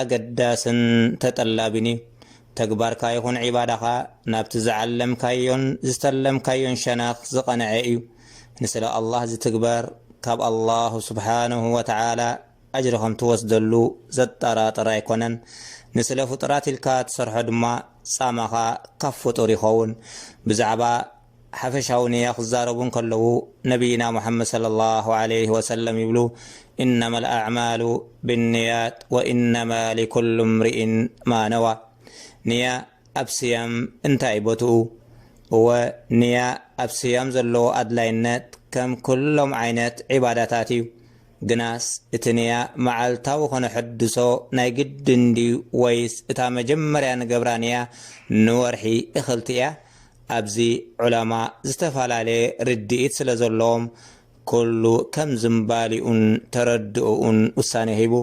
ኣገዳስን ተጠላቢን እዩ። ተግባርካ ይኹን ዒባዳኻ ናብቲ ዝዓለምካዮን ዝተለምካዮን ሸነኽ ዝቐንዐ እዩ። ንስለ ኣላህ ዝትግበር ካብ ኣላሁ ሱብሓነሁ ወተዓላ ኣጅሪ ከም ትወስደሉ ዘጠራጥር ኣይኮነን። ንስለ ፍጡራት ኢልካ ትሰርሖ ድማ ጻማኻ ካብ ፍጡር ይኸውን። ብዛዕባ። ሓፈሻዊ ንያ ክዛረቡ እንከለዉ ነብይና ሙሓመድ ሰለሏሁ ዓለይሂ ወሰለም ይብሉ ኢነመል ኣዕማሉ ቢንንያት ወኢነማ ሊኩሉ ምርኢን ማ ነዋ ንያ ኣብ ስያም እንታይ እዩ ቦትኡ? እወ ንያ ኣብ ስያም ዘለዎ ኣድላይነት ከም ኩሎም ዓይነት ዒባዳታት እዩ ግናስ እቲ ንያ መዓልታዊ ከነሐድሶ ናይ ግድን ድዩ ወይስ እታ መጀመርያ ንገብራ ንያ ንወርሒ እክልቲ እያ ኣብዚ ዑለማ ዝተፈላለየ ርድኢት ስለ ዘለዎም ኩሉ ከም ዝምባሊኡን ተረድእኡን ውሳኔ ሂቡ።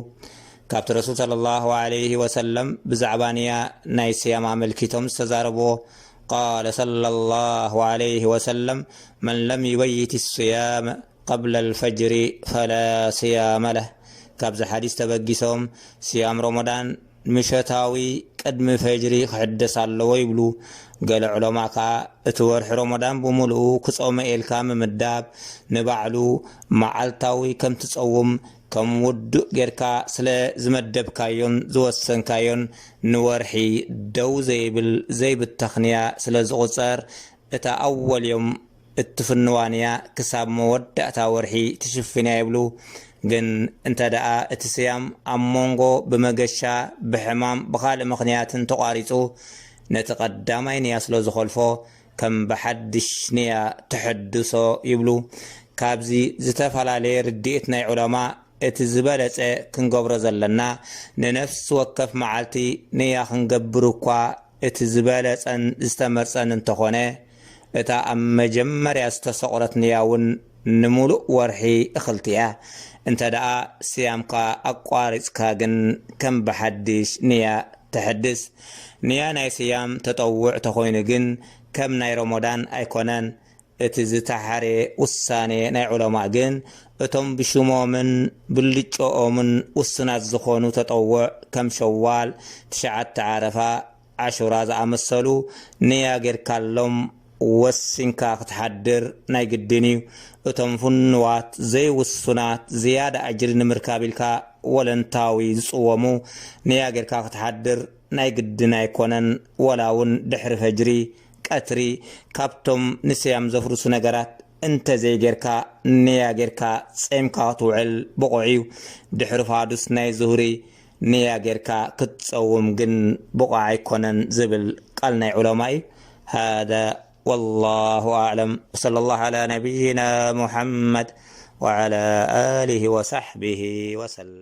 ካብቲ ረሱል ሰለላሁ ዓለይሂ ወሰለም ብዛዕባ ንያ ናይ ስያም ኣመልኪቶም ዝተዛረብዎ ቃለ ሰለላሁ ዓለይሂ ወሰለም መን ለም ዩበይት ስያመ ቀብለ ኣልፈጅሪ ፈላ ስያመ ለህ ካብዚ ሓዲስ ተበጊሶም ስያም ሮሞዳን ምሸታዊ ቅድሚ ፈጅሪ ክሕደስ ኣለዎ ይብሉ። ገለ ዑለማ ከኣ እቲ ወርሒ ሮሞዳን ብምሉኡ ክጾመ ኢልካ ምምዳብ ንባዕሉ መዓልታዊ ከም ትጸውም ከም ውዱእ ጌርካ ስለ ዝመደብካዮን ዝወሰንካዮን ንወርሒ ደው ዘይብል ዘይብተኽንያ ስለ ዝቑጸር እታ ኣወል ዮም እትፍንዋን እያ ክሳብ መወዳእታ ወርሒ ትሽፍን እያ ይብሉ ግን እንተ ደኣ እቲ ስያም ኣብ ሞንጎ ብመገሻ ብሕማም ብኻልእ ምኽንያትን ተቋሪጹ ነቲ ቀዳማይ ንያ ስለ ዝኾልፎ ከም ብሓድሽ ንያ ተሐድሶ ይብሉ ካብዚ ዝተፈላለየ ርድኢት ናይ ዑለማ እቲ ዝበለጸ ክንገብሮ ዘለና ንነፍሲ ወከፍ መዓልቲ ንያ ክንገብር እኳ እቲ ዝበለጸን ዝተመርጸን እንተኾነ፣ እታ ኣብ መጀመርያ ዝተሰቑረት ንያውን ንምሉእ ወርሒ እኽልቲ እያ። እንተደኣ ስያምካ ኣቋሪጽካ ግን ከም ብሓድሽ ንያ ተሐድስ። ንያ ናይ ስያም ተጠውዕ ተኾይኑ ግን ከም ናይ ሮሞዳን ኣይኮነን። እቲ ዝተሓርየ ውሳኔ ናይ ዑለማእ ግን እቶም ብሽሞምን ብልጭኦምን ውሱናት ዝኾኑ ተጠውዕ ከም ሸዋል፣ ትሽዓተ ዓረፋ፣ ዓሹራ ዝኣመሰሉ ንያ ጌርካሎም ወሲንካ ክትሓድር ናይ ግድን እዩ። እቶም ፍኑዋት ዘይውሱናት ዝያዳ ኣጅሪ ንምርካብ ኢልካ ወለንታዊ ዝጽወሙ ንያ ጌርካ ክትሓድር ናይ ግድን ኣይኮነን ወላ ውን ድሕሪ ፈጅሪ። ቀትሪ ካብቶም ንስያም ዘፍርሱ ነገራት እንተ ዘይጌርካ ንያ ጌርካ ጸይምካ ክትውዕል ብቑዕ እዩ። ድሕሪ ፋዱስ ናይ ዙህሪ ንያ ጌርካ ክትጸውም ግን ብቑዕ ኣይኮነን ዝብል ቃል ናይ ዑለማ እዩ። ሃዳ ወላሁ ኣዕለም ወሰለላሁ ዓላ ነብይና ሙሓመድ ወዓላ ኣሊሂ ወሳሕቢሂ ወሰለም።